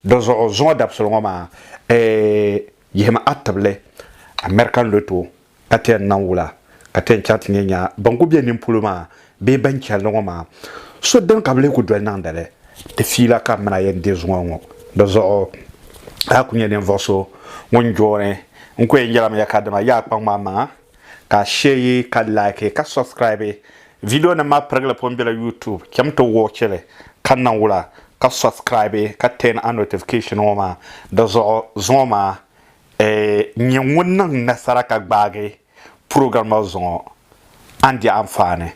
Dizuɣu zuŋɔ dabisili ŋɔ maa yihimi a tibili American Lotto ka ti yɛn niŋ wula ka ti yɛn chaŋ ti ni yɛn nya ban kuli bɛ nini polo maa bee ban chɛlli ŋɔ maa so dini ka bɛ lee kuli doli niŋdi li ti fiila ka mini a yɛn deei zuŋɔ ŋɔ dizuɣu a kuli nyɛ ninvuɣu so ŋun jooni n kuli yɛn yɛlimi ya ka dama yaa kpaŋ maa maŋa. Ka share ka like ka subscribe video nim maa pirigili pun bela YouTube chem ti watch li ka niŋ wula ka subscribe ka turn a notification ŋɔ maa di zuɣu zuŋɔ maa eh nyɛ ŋun niŋ nasara ka gbaagi program maa zuŋɔ a ni di anfaani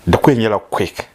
di kuli nyɛla quick.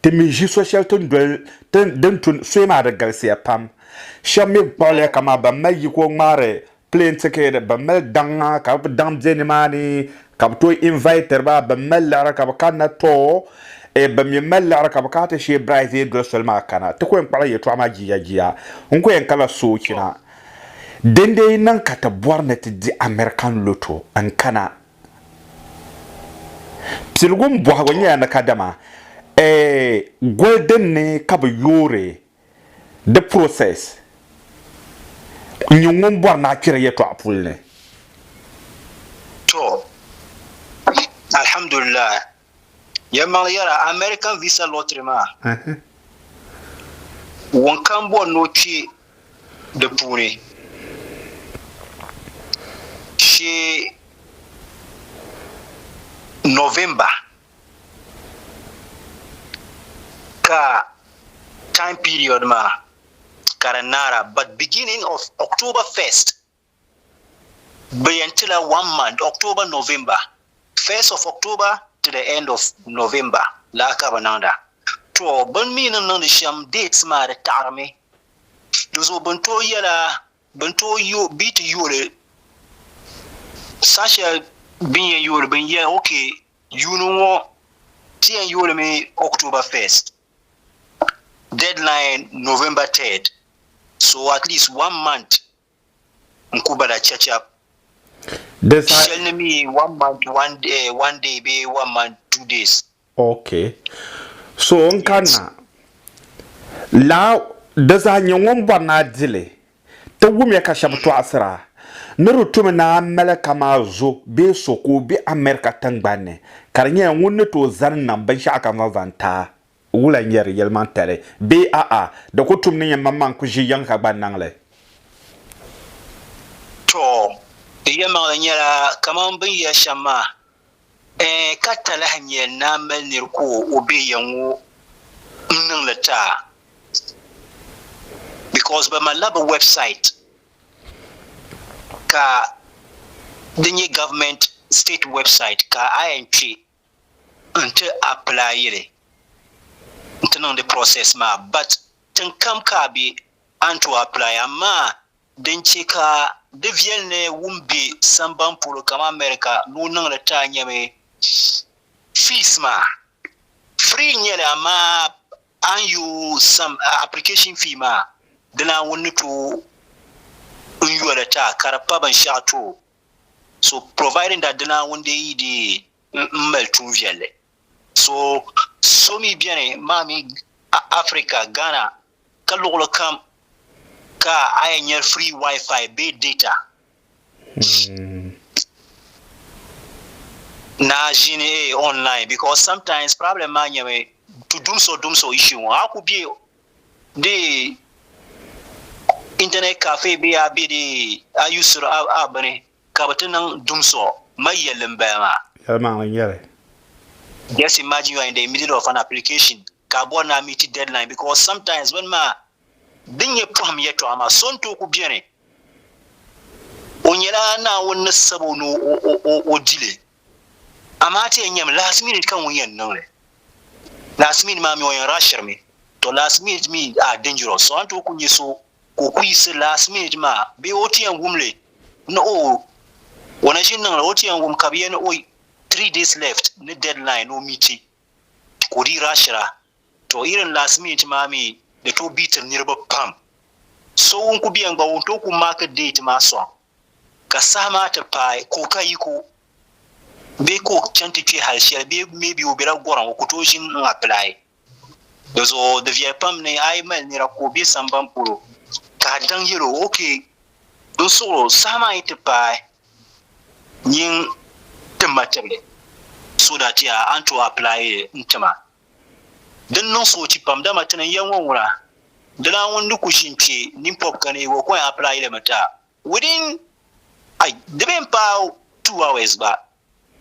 Ti mi ʒi so shɛli ti ni doli ti din tu soya maa di galisiya pam. Shɛba mi kpuɣiliya kaman ban mali yiko ŋmaari plane ticket, ban mali daŋa ka bɛ daŋ be nimaani ka bɛ tooi inviter ba, ban mali liɣiri ka bɛ kanna too, e ban mi mali liɣiri ka bɛ kana ti sheei bride zee doli soli maa kana. Ti ko yɛn kpuɣila yɛltɔɣa maa jia jia. N ko yɛn kana soochina. Dindee yi niŋ ka ti bɔri ni ti di American lotto n-kana Piligim bɔhigu nyɛla ni kadama eh, goli din ni ka bɛ yoori di process n-nyɛ ŋun bɔri ni a kpɛri yɛtɔɣa puli ni. To, alhamdulillahi. Yɛn maŋli yɛra American visa lottery maa, wunkam bɔri ni o kpe di puuni shee November ka time period maa ka di naara but beginning of October 1st. Bɛ yɛn tila one month, October, November, first of October to the end of November laa ka bɛ niŋda. To bɛ ni mi ni niŋdi shɛm dates maa di taɣirimi. Di zuɣu bɛ ni tooi yɛla bɛ ni tooi yo bɛ ti yooli saha shɛli bɛ ni yɛn yooli bɛ ni yɛli ok yuuni ŋɔ ti yɛn yoolimi October first deadline November third so at least one month n ku ba da chɛchɛb Di saha shɛli ni mi one month one day, eh, one day bee one month two days. Ok. So n kanna laa di zaɣa nyɛ ŋun bɔri ni a di li. Ti wumiya ka shɛba tɔɣisira ni di tumi ni a mali kamani zo bee so ka o be America tiŋgbani ni ka di nyɛla ŋun ni tooi zani nam binshɛɣu kam zaŋ zaŋ ti a. Wula n-nyɛ di yɛlimaŋtali? Bee a'a, di ku tum ni yɛn maŋmaŋ ku ʒi yiŋ ka gba n-niŋ li? Tɔ! Di yɛlimaŋli nyɛla kaman bɛ ni yɛli shɛm maa, Ɛɛ ka ta lahi nya ni a mali nir ka o be ya ŋɔ m-niŋ li ti a? Bikɔs bɛ malila bɛ wɛbsait ka di nyɛ gavumɛnt sitɛt wɛbsait ka a yɛn kpe nti apply li nti niŋdi process maa but tin kam ka a be an tooi apply amaa din che ka di viɛli ni wum be samban polo kaman America ni o niŋ li taa nyɛmi fees maa free n-nyɛli amaa a ni yo sam application fee maa di Naawuni ni tooi n-yo li taa ka di pa binshɛɣu tooi so providing that di Naawuni dee yi dee m-mali tuun viɛlli so so mi beni maa mi Africa Ghana ka luɣili kam ka a yɛn nyɛ free wifi bee data hmm. na ʒini eh, online because sometimes problem maa nyɛmi to dumso dumso issue ŋɔ a ku be di internet cafe bee a be di a yusuri a a bini ka bɛ ti niŋ dumso mali yelli m bala maa. Yɛlimaŋli n nyɛli. Just imagine you are in the middle of an application ka a bɔri ni a meeti deadline because sometimes bini maa din nyɛ pɔhim yɛltɔɣa maa so n tooi ku beni o nyɛla Naawuni ni sabo ni o o o o di li. Amaa ti yɛn nyami last minute ka ŋun yɛn niŋ li. Last minute maa mi o yɛn rushiri mi. To last minute mi are dangerous so a ni tooi kuli nyɛ so ka o kuli yiɣisi last minute maa bee o ti yɛn wum li ni oh o na ʒi niŋ li o ti yɛn wum ka bɛ yɛli ni oh three days left ni deadline ni o meeti ka o dii rushira. To irin last minute maa mi di tooi beatiri niriba pam. So ŋun kuli beni gba o ni tooi kuli mark date maa sɔŋ. ka saha maa ti paai ka o ka yiko bee ka o chani ti kpe hali shɛli bee maybe o bela gɔrim o ku tooi ʒini n apply dizuɣu di viɛli pam ni a yi mali nira ka o be samban polo ka a daŋ yɛl o ok n suɣiri o saha maa yi ti paai nyin ti ma tibili so that a ni tooi apply n tima. Din niŋ soochi pam, dama ti ni n yɛn ŋɔ ŋuna, dina ŋun ni ku ʒi n-kpe ninpɔb ka ni o kɔin apply li mi ta within ai di bi yɛn paai two hours gba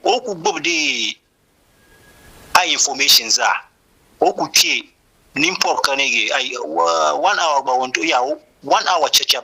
ka o ku gbubi di ai information zaa ka o ku kpe ninpɔb ka ni ai one hour gba o ni tooi, one hour chacham.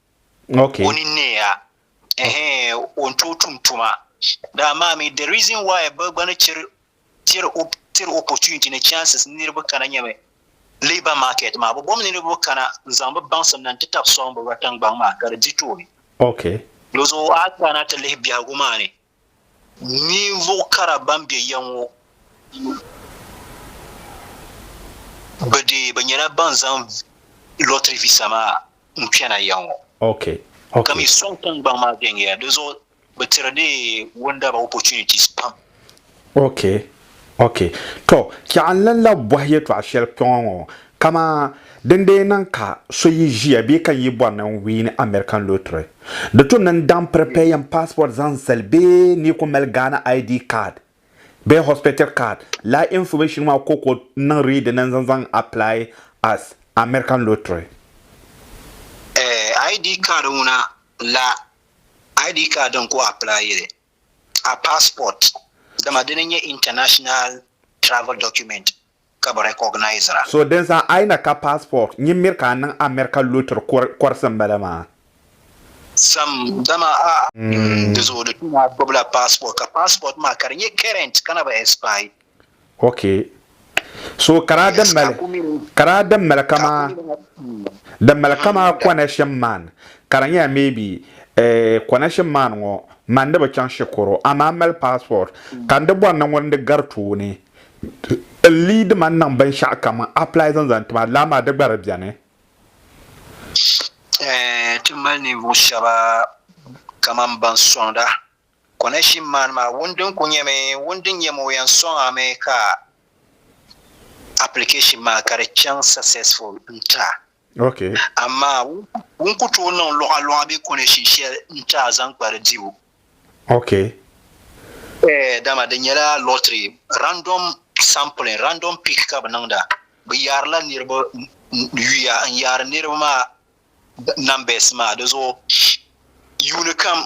okay. o ni neeya eh, o ni tooi tum tuma daa maa mi the reason why bɛ gba ni chiri tiri tiri opportunity ni chances niriba kana nyɛmi labour market maa bɛ bom niriba kana n zaŋ bɛ baŋsim na n ti tabi sɔŋ bɛ rɔtingbaŋ maa ka di di tooni okay. Dizuɣu a kana ti lihi biɛhigu maa ni Ninvuɣ kara ban be ya ŋɔ, bɛ dee bi nyɛla ban zaŋ lottery visa maa n-kpɛna ya ŋɔ. Ka mi sɔŋ tiŋgbɔŋ maa viɛŋ ya, di zuɣu bɛ tiri dee wundaba opportunities pam. Ok, tɔ, chɛɣu n lan lahi bɔhi yɛtɔɣ shɛli kpɛŋɔ ŋɔ, kaman din dee niŋ ka so yi ʒiya bee ka n yi bɔri ni n wiini American lottery, di tu ni n daŋ prepare n passport zaŋ zali bee n yi ku mali Ghana ID card bee hospital card, lala information maa koko n niŋ ready ni n zaŋ zaŋ apply as American lottery. Eh, ID card ŋuna la ID card din ku apply yili. a passport dama dini n nyɛ international travel document ka bi recognisera. So din zaŋ I na ka passport nyin miri ka a niŋ America lottery kɔrisi n bala maa. Sam dama a di zuɣu di tu ni a gbubila passport ka passport maa ka di nyɛ current ka na bi expire. ok so ka daa di mali ka daa di mali kama di mali kama connection man ka di nyɛla maybe eh, connection man ŋɔ man ni bi chaŋ shikuru amaa mali passport ka n di bɔri ni ŋun di gari tooni n lead man niŋ binshɛɣu kam apply zaŋ zaŋ ti ma lala maa di gba di bɛni Eh, ti mali ninvuɣu shɛba kamani ban sɔŋda Konashim maani maa wun din ku nyɛmi wun din nyɛ moo yan sɔŋ a mi ka application maa ka di chaŋ successful n ti a. Ok. Amaa wun ku tooi niŋ luɣa luɣa bee konashin shɛli n ti a zaŋ kpa di dibu. Ok. Eeh dama di nyɛla lottery, random sampling, random pick ka bɛ niŋda. Bɛ yaarila niriba yuya n yaari niriba maa numbers maa di zuɣu yuuni kam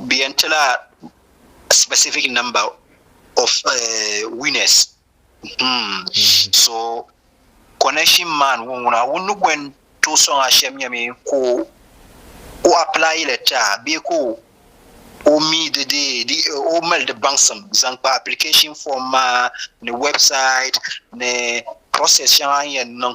bɛ yɛn ti la specific number of uh, winners hmm. so connection man ŋun ŋuna ŋun ni bɔn tooi sɔŋ a shɛm nyɛmi ka o apply la taa bee ka o mi di di o mali di baŋsim zaŋ kpa application form maa ni website ni process shɛŋa n yɛn niŋ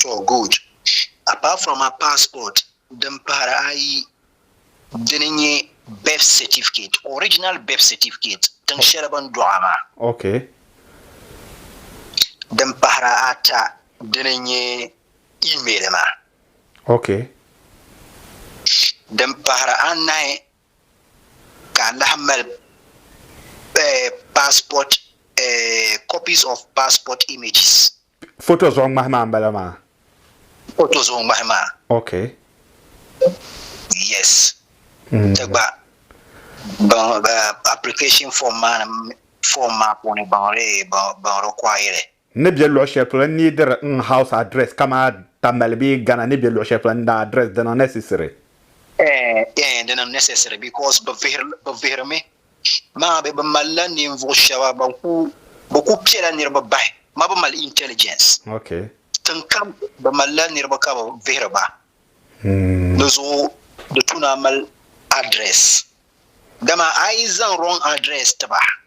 To good. Apart from a passport din pahiri ayi dini n-nyɛ birth certificate, original birth certificate tiŋ shɛli bɛ ni dɔɣi maa. Ok. Din pahiri ata dini n-nyɛ email maa. Ok. Din pahiri anahi ka a lahi mali passport copies of passport images. Foto zuɣu ŋmahi maa m-bala maa. Foto zuɣu ŋmahi maa. Ok. Yes. Ti gba application form maa ni form maa puuni baŋ require. N ni be luɣ shɛli polo n neediri n house address kamaa Tamale bee Ghana ni be luɣ shɛli polo n daa address di niŋ necessary? Eeh di niŋ necessary because bɛ vihiri mi maa bɛ bi mali la ninvuɣ shɛba ban ku bɛ ku piɛla niriba bahi ma bɛ mali intelligence tin kam bɛ mali la niriba ka bɛ vihiri ba di zuɣu di tu ni a mali address dama a yi zaŋ wrong address ti ba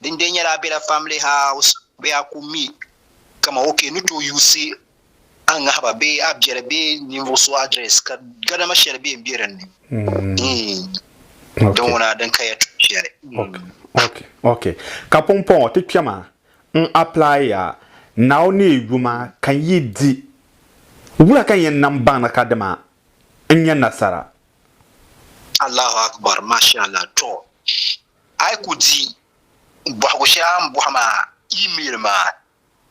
Din bɛ nyɛla Abela Family House bee a ku mi ka ma o ka i ni tooi yuusi a ŋahiba bee a biɛri bee ninvuɣ so address ka gadama shɛli bee m-be din ni. Din ŋuna din kaya tuhi shɛli. Ok. Ka pumpɔŋɔ ti kpɛma n apply-ya Nao ni yuma ka n yi di, wula ka n yɛn nam baŋda ka dima n nya nasara? Allahu Akbar, Masha Allah. Tɔ! A yi ku di bɔhigu shɛli a ni bɔhi maa email maa,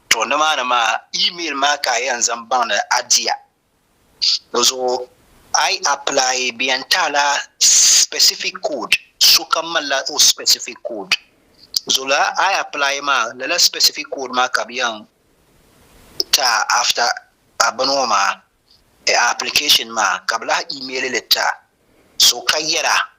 tɔ nimaani maa email maa ka a yɛn zaŋ baŋdi a diya. Di zuɣu a yi apply bɛ yɛn ti a la specific code, sokam malila o specific code. Di zuɣu lala a yi apply maa lala specific code maa ka bɛ yɛn ti a after a bini ŋɔ maa, a application maa ka bɛ lahi email li ti a. So ka yɛra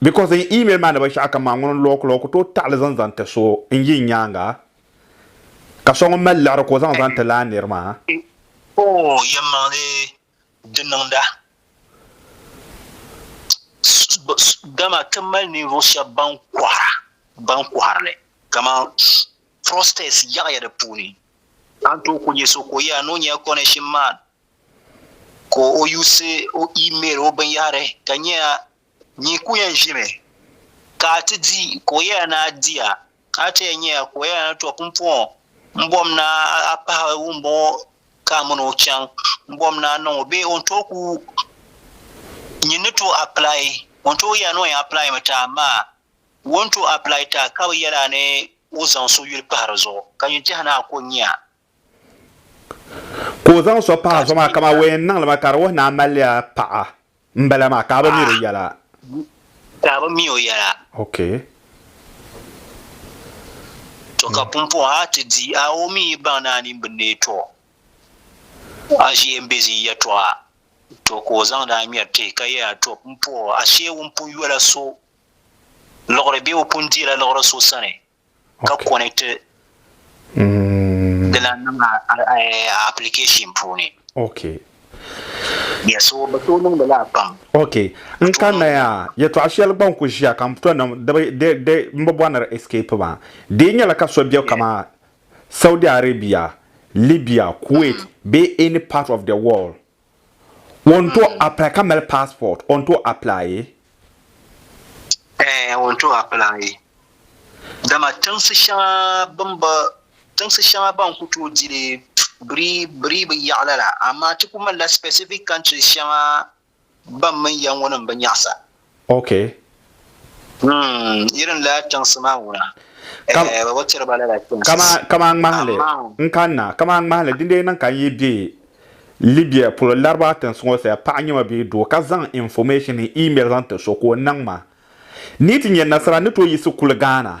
Because n email maa ni ba shɛɣu kam maa ŋuni n lɔɔ kula o ku tooi taɣili zaŋ zaŋ ti so n yi nyaaŋa ka so ŋun mali liɣiri ka o zaŋ zaŋ ti laa niri maa. Oh yɛmmaŋli di niŋda dama ti mali ninvuɣu shɛba ban kɔhira ban kɔhiri li kaman fraudsters yaɣiya di puuni ka n tooi ku nya so ka o yɛra ni o nyɛla connection man ka o use o email o binyɛhiri ka nyɛla Nyi ku yɛn ʒimi ka a ti di ka o yɛla ni a di a, a ti yɛn nya ka o yɛla ni, Tɔ! Pumpɔŋɔ, m bom ni a pahi wumbɔŋɔ ka a mini o chaŋ, m bom ni a niŋ o bee o ni tooi ku nyin ni tooi apply, o ni tooi yɛla ni o yɛn apply mi ti a amaa o ni tooi apply ti a ka bi yɛli a ni o zaŋ so yuli pahi di zuɣu ka nyin tɛha ni a ku nya Ka o zaŋ so pahi a zuɣu maa, kaman o yɛn niŋli ma, ka di wuhi ni a malila paɣa m-bala maa, ka a bi mi di yɛla. Ka a bi mi o yɛla. Ok. Tɔ ka pumpɔŋɔ a ti di a o mi yi baŋ ni a nini bi neei tɔ a ʒiya m-be ʒii yɛtɔɣa. Tɔ ka o zaŋdi a ŋmɛri ti ka yɛli a, Tɔ pumpɔŋɔ, ashee ŋun pun yola so liɣiri bee o pun deela liɣiri so sani, ka konɛkti di lan niŋ a application puuni. Okay. Yeah, so bɛ tooi niŋdi la pam. Okay. N kanna ya yɛtɔɣa shɛli gba n-ku ʒiya ka m to niŋ di m bi bɔri ni di escape maa. Di yi nyɛla ka so be kaman Saudi Arabia, Libya, Kuwait bee any part of the world, Ŋun to apply ka mali passport on to apply e? Eeh on to apply e dama tiŋsi shɛŋa bin bi tiŋsi shɛŋa ban ku tooi dili biri biri bi yaɣa lala amaa ti ku malila specific countries shɛŋa ban mini ya ŋɔ ni n bi nyaɣisa. Ok. Hmm, yi din lahi chaŋsi maa ŋuna. Kam- Eh, ba tiri ba lala chaŋsi. Kama kama n ŋmahili Amaa. n kanna kama n ŋmahili dindee niŋ ka n yi be Libya polo Laribaa tinsi ŋɔ saya paɣa nyɛ ma bee doo ka zaŋ information ni email zaŋ ti so ka o niŋ ma ni yi ti nya nasara ni tooi yiɣisi kuli Ghana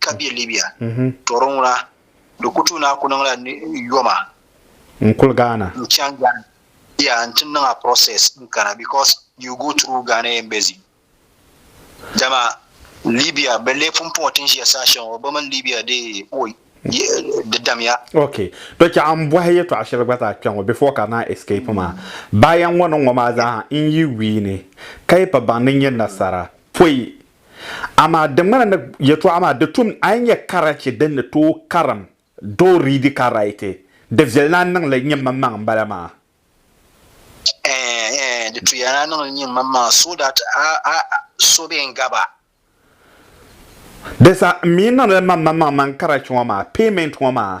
ka be Libya to di ŋuna di ku tuui ni a ku niŋla yoma n kuli Ghana n chaŋ Ghana yeah n ti niŋ a process n kana because you go through Ghana embassy dama Libya be lee pun pɔŋ tin ʒiya saha shɛŋa be mini Libya di oi di damiya. Ok to chɛ a n bɔhi yɛtɔɣa shɛli gba zaa kpɛŋɔ before ka naa escape maa bayan ŋɔ niŋ ŋɔ maa zaaha n yi wii ni ka yi pa baŋ ni nyɛ nasara pɔi Amaa di ŋmana ni yɛtɔɣa maa di tum a yi nya karachi din ni tooi karim doo riidi ka raiti, di viɛli ni a niŋ li nyin manmaŋ m-bala maa. Ɛɛn, ɛɛn, di tuya ni a niŋ li nyin manmaŋ so that a, a, a so bee n-gab a. Di sa, m mi niŋ li manmanmaŋ man karachi ŋɔ maa, payment ŋɔ maa,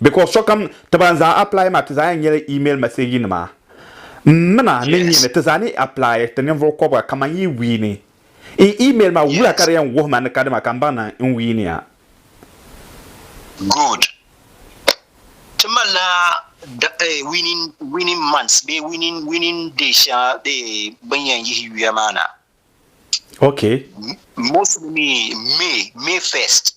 because sokam ti ban zaa apply maa ti zaa yɛn nyɛla email message nima m mina ni n nyɛmi ti zaa ni apply ti ninvuɣu kɔbiga kaman yi wiini n email maa wula ka di yɛn wuhi ma ni ka dima ka m baŋ ni n wiiniya. Good. Ti malila winning winning months bee winning winning day shɛŋa bee bin yɛn yihi yuya maa na. Okay. Mostly mi May May first.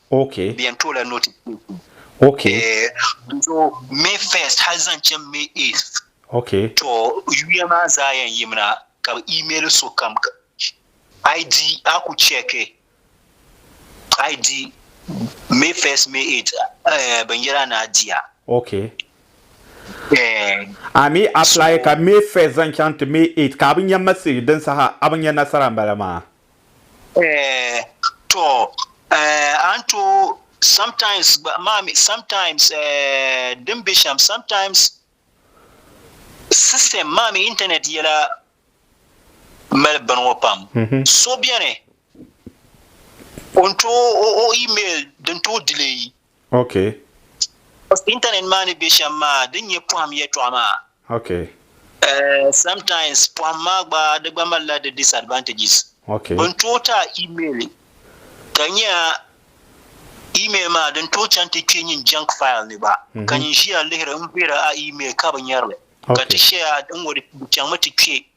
Ok. Di yɛn toola notification. Ok. Nzo May first hali zaŋ chaŋ May eighth. Ok. To yuya maa zaa yɛn yimina ka bi email sokam ID a ku check ID May first May eighth binyɛra ni a diya. Ok. A mi apply ka May first zaŋ chaŋ ti May eighth ka a bi nya message din saha a bi nya nasara m bala maa. Eh, to, eh, a ni tooi sometimes gba, maa mi, sometimes, eh, din be shɛm, sometimes system, maa mi internet yɛla mali bini ŋɔ pam. So beni, o ni tooi o, o email din tooi delay Ok. Because internet maa ni be shem maa din nye pohim yetɔɣa maa. Ok. Eh, sometimes pohim maa gba di gba malila di disadvantages. Ok. Bin tooi ti a email ka nye a email maa din tooi chaŋ ti kpe nyin junk file ni gba ka nyin ʒiya lihiri n vihiri a email ka bi nyerili ka ti share a n ŋɔ di chaŋmi ti kpe